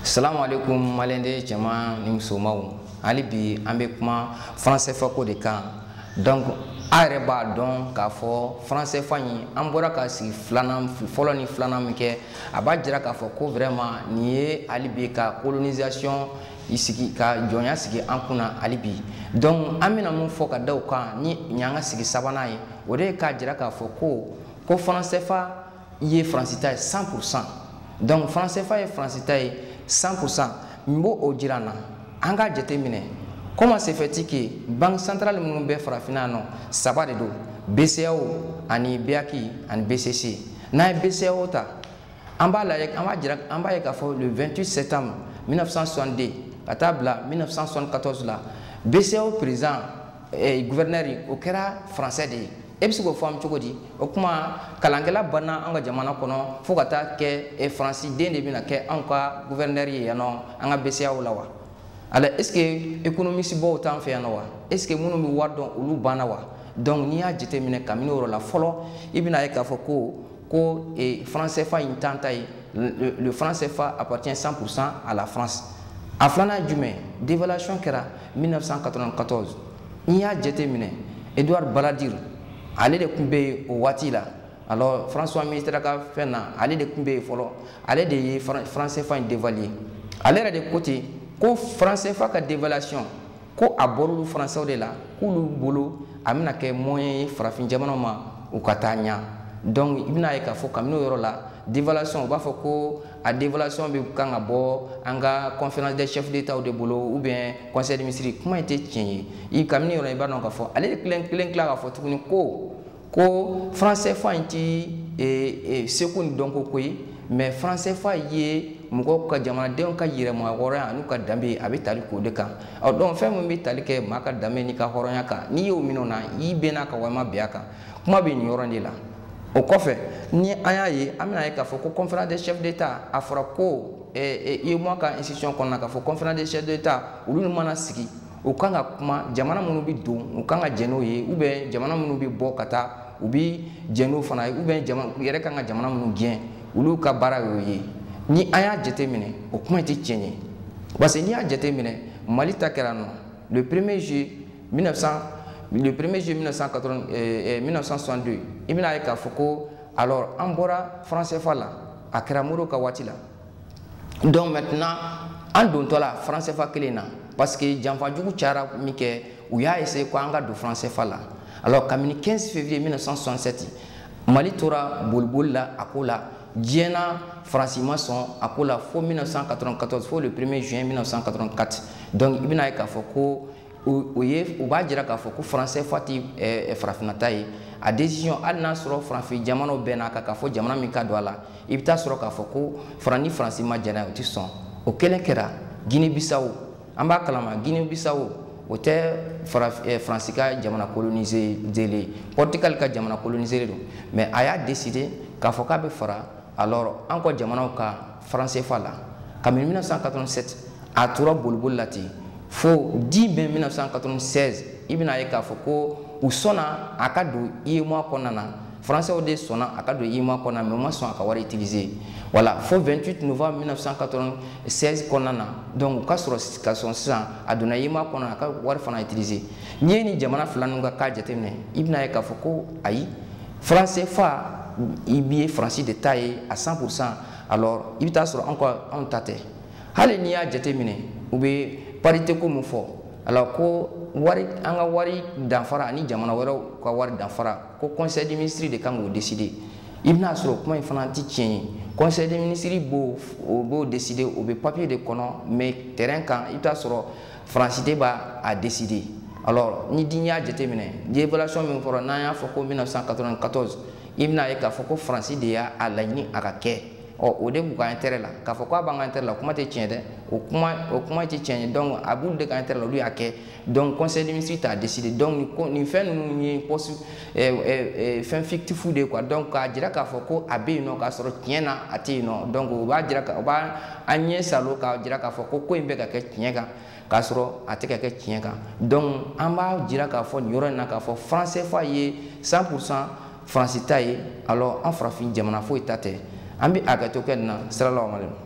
salamu alaikum maliden cɛman ni musomanw hali bi an bɛ kuma franc cfa ko de kan donc a yɛrɛ b'a dɔn k'a fɔ franc cfa in an bɔra ka sigi filanan fɔlɔ ni filanan min kɛ a b'a jira k'a fɔ ko vraiment nin ye hali bi ka colonisation sigi ka jɔnya sigi an kunna hali bi donc an bɛna mun fɔ ka da o kan nin y'an ka sigi sabanan ye o de ye k'a jira k'a fɔ ko ko franc cfa ye faransi ta ye 100 pour cent donc franc cfa ye faransi ta ye 100 pour cent mun b'o jira an na an k'a jate minɛ comment se fait-il que banque centrale minnu bɛ farafinna nɔ saba de don bceao ani beac ani bcc n'an ye bceao ta an b'a lajɛ an b'a jira an b'a ye k'a fɔ le 28 septembre 1962 ka taa bila 1974 la bceao président eh, gouverneur o kɛra français de ye e bɛ se k'o faamu cogo di o kuma kalankɛla banna an ka jamana kɔnɔ fo ka taa kɛ e faransi den de bɛna kɛ anw ka guvɛrinɛri ye yan nɔ an ka bceao la wa yala est ce que économiste baw t'an fɛ yan nɔ wa est ce que minnu bɛ wari dɔn olu banna wa donc n'i y'a jateminɛ kabini o yɔrɔ la fɔlɔ i bɛn'a ye k'a fɔ ko ko e, franc cfa in t'an ta ye le franc cfa appartient 100 pour cent à la france a filanan ye jumɛn dévaluation kɛra 1994 n'i y'a jate minɛ edouard balladur ale de tun bɛ yen o waati la alors françois mitterrand ka fɛn na ale de tun bɛ yen fɔlɔ ale de ye franc cfa in devaluer ale yɛrɛ de ko ten ko franc cfa ka devaluation ko a bɔr'olu français de la k'olu bolo a bɛna kɛ moyen ye farafin jamanaw ma u ka taa ɲɛ donc i bɛn'a ye k'a fɔ kabini o yɔrɔ la devaluation u b'a fɔ ko a devaluation bɛ kan ka bɔ an ka conférence des chefs d'étatw de bolo ou bien conseil des ministres kuma in tɛ tiɲɛ ye i kabini o yɔrɔ i b'a dɔn k'a fɔ ale de kelen tila k'a fɔ tuguni ko ko franc cfa in tɛ e, e, seko ni dɔnko ko ye mais franc cfa ye mɔgɔw ka jamanadenw ka yɛrɛmahɔrɔnya an'u ka danbe ye a bɛ tali k'o de kan ɔ donc fɛn min bɛ tali kɛ maa ka danbe n'i ka hɔrɔnya kan n'i y'o minɛ o na i bɛn'a ka walima bɛn a kan kuma bɛ nin yɔrɔ de la o kɔfɛ ni an y'a ye an bɛn'a ye k'a fɔ ko conférence des chefs d'état a fɔra ko UEMOA ka institution kɔnɔna k'a fɔ conférence des chefs d'état olu mana sigi u kan ka kuma jamana minnu bɛ don u kan ka jɛ n'o ye ou bien jamana minnu bɛ bɔ ka taa u bɛ jɛ n'o fana ye ou bien u yɛrɛ kan ka jamana minnu gɛn olu ka baara y'o ye ni an y'a jateminɛ o kuma in tɛ tiɲɛ ye parce que n'i y'a jateminɛ mali ta kɛra nɔ le premier juillet 1900 le premier juillet 1980 eh, 1962 eh, i bɛna ye k'a fɔ ko alors an bɔra franc CFA la a kɛra Modibo ka waati la donc maintenant an dontɔla franc CFA kelen na parce que janfa jugu cayara minkɛ u y'a essayer ko an ka don franc CFA la alors kabini 15 février 1967 Mali tora boliboli la a ko la diɲɛ na faransi ma sɔn a ko la fo 1994 fo le 1er juin 1984 donc i bɛna ye k'a fɔ ko o ye o b'a jira k'a fɔ ko franc CFA tɛ farafinna ta ye a décision hali n'a sɔrɔ farafin jamanaw bɛɛ n'a kan k'a fɔ jamana min ka don a la i bɛ taa sɔrɔ k'a fɔ ko faran ni faransi ma jɛn n'a ye o tɛ sɔn o kelen kɛra guinee bissau an b'a kalama guinee bissau o tɛ faransi ka jamana coloniserlen ye portugal ka jamana coloniserlen don mais a y'a décider k'a fɔ k'a bɛ fara alors an ka jamanaw ka franc CFA la kabini 1987 a tora boliboli la ten fo 10 mai 1996 i bɛna ye k'a fɔ ko u sɔnna a ka don UEMOA kɔnɔna na français de sɔnna a ka don UEMOA kɔnɔna mais u ma sɔn a ka wari utiliser voilà fo 28 novembre 1996 kɔnɔna na donc u ka sɔrɔ ka sɔn sisan a donna UEMOA kɔnɔna a ka wari fana utiliser n'i ye nin jamana fila ninnu ka cas jateminɛ i bɛna ye k'a fɔ ko ayi franc CFA i b'a ye faransi de ta ye à 100 pourcent alors i bɛ taa sɔrɔ anw ka anw ta tɛ hali n'i y'a jateminɛ u bɛ parité ko min fɔ alors ko wari an ka wari danfara ani jamana wɛrɛw ka wari danfara ko conseil des ministres de ka kan k'o décider i bɛna sɔrɔ kuma in fana tɛ tiɲɛ ye conseil des ministres b'o o b'o décider o bɛ papier de kɔnɔ mais terrain kan i bɛ taa sɔrɔ faransi de b'a a décider alors n'i de y'a jateminɛ dévaluation min fɔra n'an y'a fɔ ko 1994 i bɛna ye k'a fɔ ko faransi de y'a a laɲini a ka kɛ ɔ o de b'u ka intérêt la k'a fɔ k'a b'an ka intérêt la o kuma tɛ tiɲɛ dɛ o kuma o kuma tɛ tiɲɛ ye donc a b'olu de ka intérêt la olu y'a kɛ donc conseil des ministres t'a décider donc nin ko nin fɛn ninnu ye poste ɛɛ ɛɛ fɛn fictif de ye quoi donc k'a jira k'a fɔ ko a bɛ yen nɔ k'a sɔrɔ tiɲɛ na a tɛ yen nɔ donc o b'a jira o b'an ɲɛ saalo k'a jira k'a fɔ ko ko in bɛ ka kɛ tiɲɛ kan. k'a sɔrɔ a tɛ ka kɛ tiɲɛ kan donc an b'a jira k'a fɔ nin yɔrɔ in na k'a fɔ franc CFA ye 100 pour cent faransi ta ye alors an farafin jamana foyi ta tɛ an bɛ hakɛto kɛ nin na siralaw ma